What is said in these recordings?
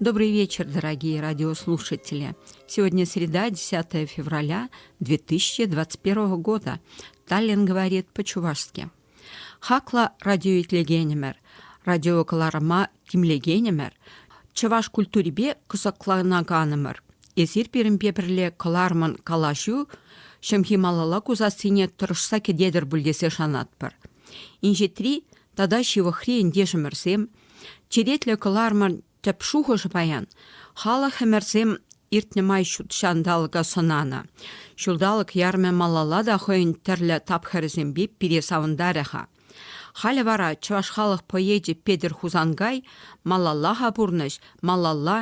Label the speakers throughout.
Speaker 1: Добрый вечер, дорогие радиослушатели! Сегодня среда, 10 февраля 2021 года. Таллин говорит по-чувашски. Хакла радиоитлегенемер, радиокаларыма тимлегенемер, чӑваш культурипе кӑсӑкланаканымӑр. Эсир пирӗнпе пӗрле кӑларман калаҫу ҫӑмхи малалла кусассине тӑрӑшса кӗтетӗр пуль тесе шанатпӑр. Инҫетри тата ҫывӑхри ентешӗмӗрсем – Черетлӗ кӑларӑмӑн тӗп шухӑшӗ паян, халӑх ӗмӗрсем иртнӗ май ҫут ҫанталӑка сӑнанӑ. Ҫулталӑк ярӑмӗ малалла та хӑйӗн тӗрлӗ тапхӑрӗсемпе пире савӑнтарӗ-ха. Халӗ вара чӑваш халӑх поэчӗ Петӗр Хусанкай малалла-ха пурнӑҫ, малалла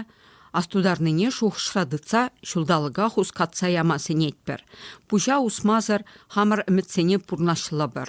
Speaker 1: астутарнине шухӑшра тытса ҫулталӑка хускатса яма сӗнетпӗр. Пуҫа усмасӑр хамӑр ӗмӗтсене пурнӑҫлӑпӑр.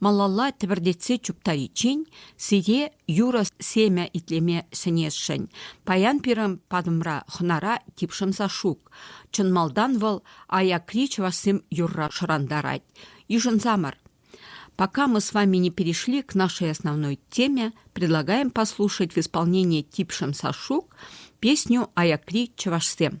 Speaker 1: Малалла тӗпӗртетсе чуптариччен сире юрӑ семӗ итлеме сӗнесшӗн. Паян пирӗн патӑмра хӑнара тип шӑнса шук. Чӑн малтан вӑл аякри чӑвашсем юрра шӑрантарать. Йышӑнсамӑр. Пока мы с вами не перешли к нашей основной теме, предлагаем послушать в исполнении Тип Шамсашук песню «Аякри чӑвашсем».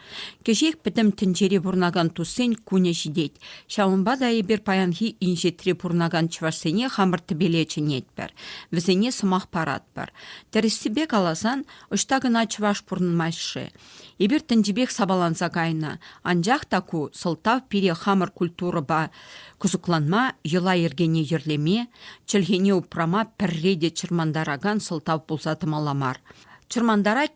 Speaker 1: Кӗҫех пӗтӗм тӗнчере пурӑнакан туссен кунӗ ҫитет. Ҫавӑнпа та эпир паянхи инҫетре пурӑнакан чӑвашсене хамӑр тӗпеле чӗнетпӗр, вӗсене сӑмах паратпӑр. Тӗрӗссипе каласан, ӑҫта кӑна чӑваш пурӑнмасть-ши? Эпир тӗнчипех сапаланса кайнӑ, анчах та ку сӑлтав пире хамӑр культурӑпа кӑсӑкланма, йӑла-йӗркене йӗрлеме, чӗлхене упрама пӗрре те чӑрмантаракан сӑлтав пулса тӑмалла мар. Чӑрмантарать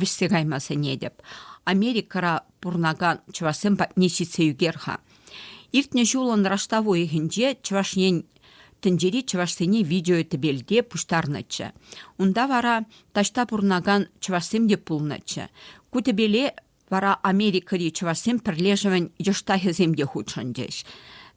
Speaker 1: вӗҫсе кайма сӗнетӗп. Америкӑра пурӑнакан чӑвашсем патне ҫитсе ӳкер-ха. Иртнӗ ҫулӑн раштав уйӑхӗнче Чӑваш Ен тӗнчери чӑвашсене видеотӗпелте пуҫтарнӑччӗ. Унта вара таҫта пурӑнакан чӑвашсем те пулнӑччӗ. Ку тӗпеле вара Америкӑри чӑвашсен пӗрлешӗвӗн йӑштахӗсем те хутшӑнчӗҫ.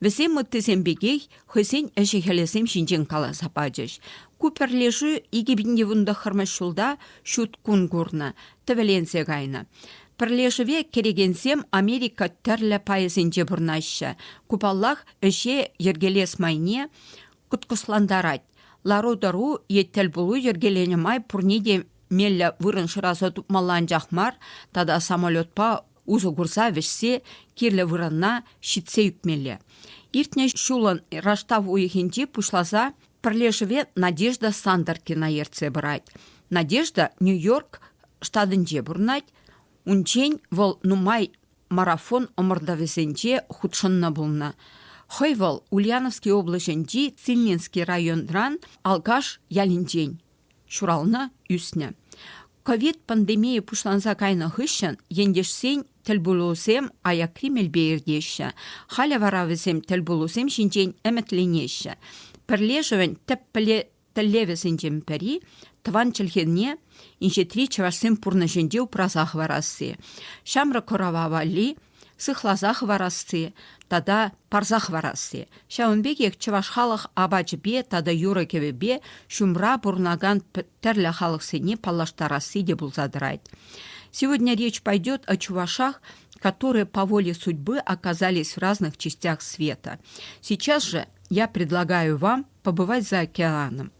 Speaker 1: Вӗсем ыттисем пекех хӑйсен ӗҫӗ-хӗлӗсем ҫинчен каласа пачӗҫ. Ку пӗрлешӳ икӗ пин йывӑн тӑххӑрмӗш ҫулта ҫут кун курнӑ, тӗвӗленсе кайнӑ. Пӗрлешӗве кӗрекенсем Америка тӗрлӗ пайӗсенче пурӑнаҫҫӗ. Ку, паллах, ӗҫе йӗркелес майне кӑткӑслантарать. Лару-тӑру е тӗлпулу йӗркеленӗ май пурне те меллӗ вырӑн шыраса тупмалла анчах мар тата самолетпа усӑ курса вӗҫсе кирлӗ вырӑнна ҫитсе ӳкмелле. Иртнӗ ҫулӑн раштав уйӑхӗнче пуҫласа пӗрлешӗве Надежда Сандеркина ертсе пырать. Надежда Нью-Йорк штатӗнче пурӑнать. Унччен вӑл нумай марафон ӑмӑртӑвӗсенче хутшӑннӑ пулнӑ. Хӑй вӑл Ульяновски облаҫӗнчи Цилинский районран Алкаш ялӗнчен. ҫуралнӑ, ӳснӗ. Ковид пандемийӗ пуҫланса кайнӑ хыҫҫӑн ентешсен тӗлпулусем аякри мелпе иртеҫҫӗ. Халӗ вара вӗсем тӗлпулусем ҫинчен ӗмӗтленеҫҫӗ. Пӗрлешӗвӗн тӗп тӗллевӗсенчен пӗри, тӑван чӗлхене инҫетри чӑвашсен пурнӑҫӗнче упраса хӑварасси. Ҫамрӑк курава валли сыхласа хӑварасси тата парса хӑварасси. Ҫавӑн пекех чӑваш халӑх апачӗпе тата юрӑ-кӗвӗпе ҫумра пурӑнакан тӗрлӗ халӑхсене паллаштарасси те пулса тӑрать. Сегодня речь пойдет о чувашах, которые по воле судьбы оказались в разных частях света. Сейчас же я предлагаю вам побывать за океаном.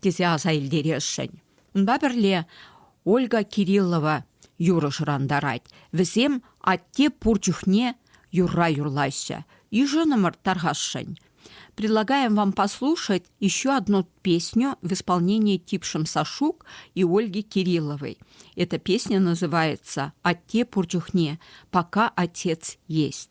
Speaker 1: тесе аса илтересшӗн. Унпа пӗрле Ольга Кириллова юрӑ шӑрантарать. Вӗсем атте пур чухне юрра юрлаҫҫӗ. Йышӑнӑмӑр тархасшӑн. Предлагаем вам послушать еще одну песню в исполнении Тип Шамсашук и Ольги Кирилловой. Эта песня называется «Атте пур чухне, пока отец есть».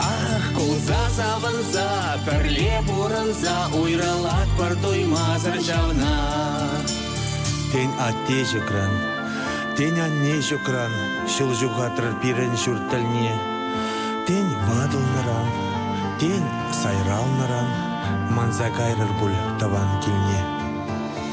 Speaker 2: Ах, кулса савӑнса, пӗрле пурӑнса уйрӑлатпӑр туймасӑр ҫавна. Тен, атте ҫукран, тен, анне ҫукран ҫул ҫухатрӑр пирӗн ҫурт тӗлне. Тен, ватӑлнӑран, тен, сайралнӑран манса кайрӑр пуль тӑван килне.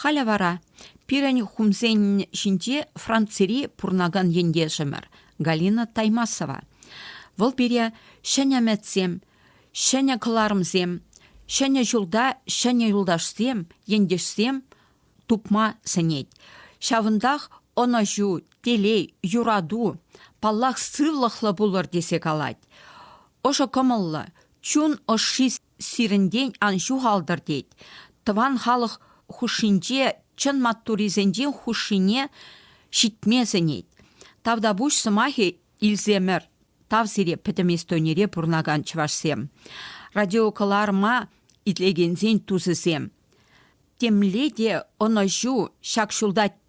Speaker 1: Халӗ вара пирӗн хумсен ҫинче Францири пурӑнакан ентешӗмӗр Галина Таймасова. Вӑл пире ҫӗнӗ ӗмӗтсем, ҫӗнӗ кӑларӑмсем, ҫӗнӗ ҫулта ҫӗнӗ юлташсем, ентешсем тупма сӗнет. Ҫавӑнтах ӑнӑҫу, телей, юрату, паллах, сывлӑхлӑ пулӑр тесе калать. Ӑшӑ кӑмӑллӑ, чун ӑшши сирӗнтен ан ҫухалтӑр тет. Тӑван халӑх хушшинче чӑн маттурисенчен хушшине ҫитме сӗнет. Тавтапуҫ сӑмахӗ илсемӗр тав сире пӗтӗм Эстонире пурӑнакан чӑвашсем, радиокӑларӑма итлекенсен тусӗсем. Темле те ӑнӑҫу ҫак ҫулта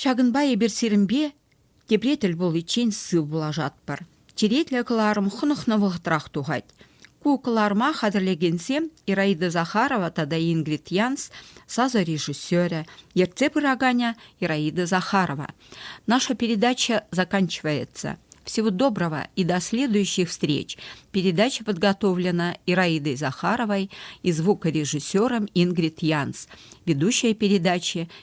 Speaker 1: Ҫакӑнпа эпир сирӗнпе тепре тӗл пуличчен сыв пулашатпӑр. Черетлӗ кӑларӑм хӑнӑхнӑ вӑхӑтрах тухать. Ку кӑларӑма хатӗрлекенсем Ираида Захарова тата Ингрид Янс сасӑ режиссерӗ, ертсе пыраканӗ Ираида Захарова. Наша передача заканчивается. Всего доброго и до следующих встреч. Передача подготовлена Ираидой Захаровой и звукорежиссером Ингрид Янс. Ведущая передачи